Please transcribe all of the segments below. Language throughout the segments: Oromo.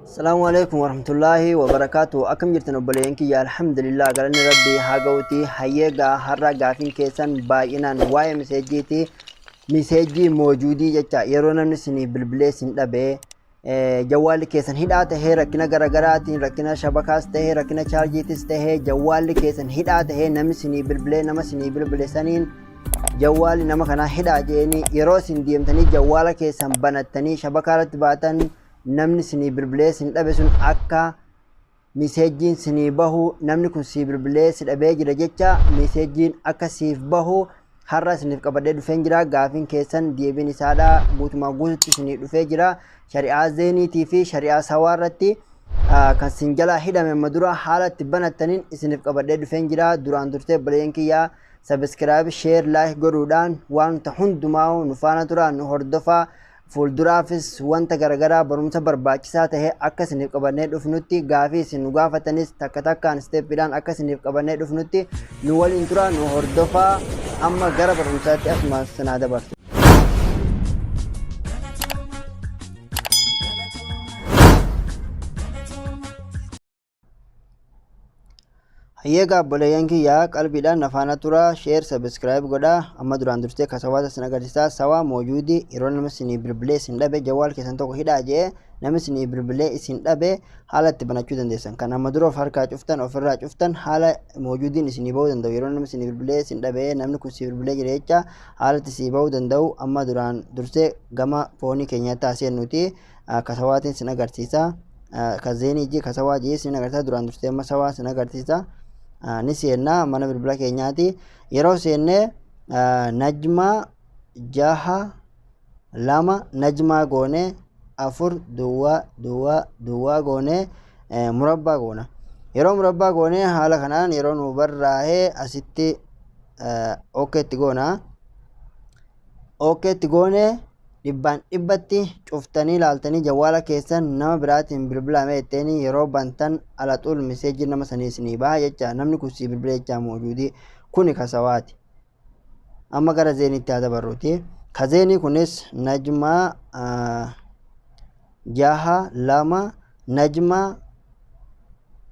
Salaamu alaikum warahmatullaahi wabarakaatu. Akkam jirtan obboleeyyan kiyya alhamdulillah galanni rabbii haa ga'uti. Hayyee gaa har'a gaafiin keessan baay'inaan waa'ee miseejjiiti. Miseejjii moojuudii jecha yeroo namni siniif bilbilee sin dhabee eh, jawwaalli keessan hidhaa tahee rakkina garaagaraatiin rakkina shabakaas tahee rakkina chaarjiitis tahee jawwaalli keessan hidhaa tahee namni sinii bilbilee nama sinii bilbile saniin jawwaali nama kanaa hidhaa jeeni yeroo isin deemtanii jawwaala keessan banattanii shabakaa irratti baatan namni sinii bilbilee sin dhabe sun akka miseejjiin sinii bahu namni kun sii bilbilee si dhabee jira jecha miseejjiin akka siif bahu har'a isiniif qabadee dhufeen jira gaafiin keessan deebiin isaadha guutumaa guututti isinii dhufee jira shari'aa zeeniitii fi shari'aa sawaa irratti ah, kan sin jalaa hidhame amma dura haala itti banattaniin isiniif qabadee dhufeen jira duraan durtee baleen kiyyaa Subscribe, Share, Like godhuudhaan waanta hundumaa'u nu faana turaa nu hordofaa. Fuulduraafis wanta garagaraa barumsa barbaachisaa ta'e akka isiniif qabannee dhufnutti gaafii isin nu gaafatanis takka takkaan isteeppiidhaan akka isiniif qabannee dhufnutti nu waliin turaa nu hordofaa amma gara barumsaatti asuma sinaa dabarsa. Hayyeega abboleeyyan kiyyaa qalbiidhaan na faana tura sheer sabiskiraayib godha amma duraan dursee kasawaata sin agarsiisaa sawaa moojuudi yeroo nama sinii bilbilee isin dhabe jawaal keessan tokko hidhaa jee nama sinii bilbilee isin dhabe haala itti banachuu dandeessan kan amma dura of harkaa cuftan ofirraa cuftan haala moojuudiin isinii ba'uu danda'u yeroo nama sinii bilbilee isin dhabe namni kun si bilbilee jira jecha haala itti sii ba'uu danda'u amma duraan dursee gama foonii keenyaatti haaseennuuti ah, ka sawaatiin sin agarsiisa ah, ka zeenii jee ka sawaa jee sin agarsiisa duraan dursee amma sawaa sin agarsiisa Ah, ni seenna mana bilbila keenyaati yeroo seenne ah, najmaa jaha lama najmaa goone afur duwwaa duwwaa duwwaa goone eh, murabbaa goona yeroo murabbaa goone haala kanaan yeroo nu barraa'ee asitti eh, ok itti goona ookee itti goonee dhibbaan dhibbatti cuftanii laaltanii jawwaala keessan nama biraatiin bilbilaame jetteenii yeroo bantan alaxuul miseejii nama sanii isinii baha jecha namni kun sii bilbila jechaa moojuudii kuni kasawaati amma gara zeeniitti haa dabarruuti ka zeenii kunis najmaa ah, jaha lama najmaa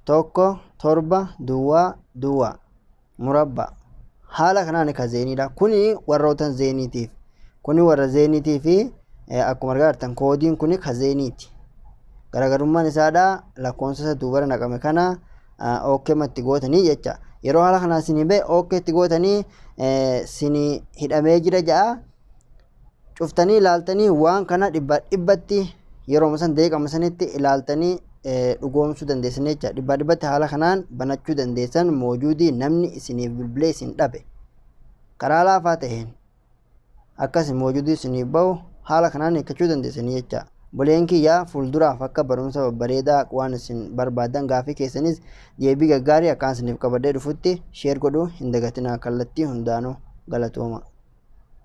tokko torba duwwaa duwwaa murabbaa. Haala kanaan ka zeeniidha. Kuni warroota zeeniitiif. Kuni warra zeeniitii fi akkuma argaa jirtan koodiin kuni ka zeeniiti. Garaagarummaan isaadha lakkoofsa isa duubara naqame kana ookkeema itti gootanii jecha. Yeroo haala kanaan isin himee ookkee itti gootanii isin hidhamee jira ja'a. cuftanii ilaaltanii waan kana dhibbaa dhibbatti yeroo san deeqama sanitti ilaaltanii dhugoomsuu dandeessan jecha dhibbaa dhibbatti haala kanaan banachuu dandeessan moojuudii namni isiniif bilbilee isin dhabe karaa laafaa ta'een akkasi moojuudii isiniif bahu haala kanaan hiikkachuu dandeessanii jecha buleen kiyyaa fuulduraaf akka barumsa babbareedaa waan isin barbaadan gaafii keessanis deebii gaggaarii akkaan isiniif qabadhee dhufutti sheer godhuu hin dagatinaa kallattii hundaanuu galatooma.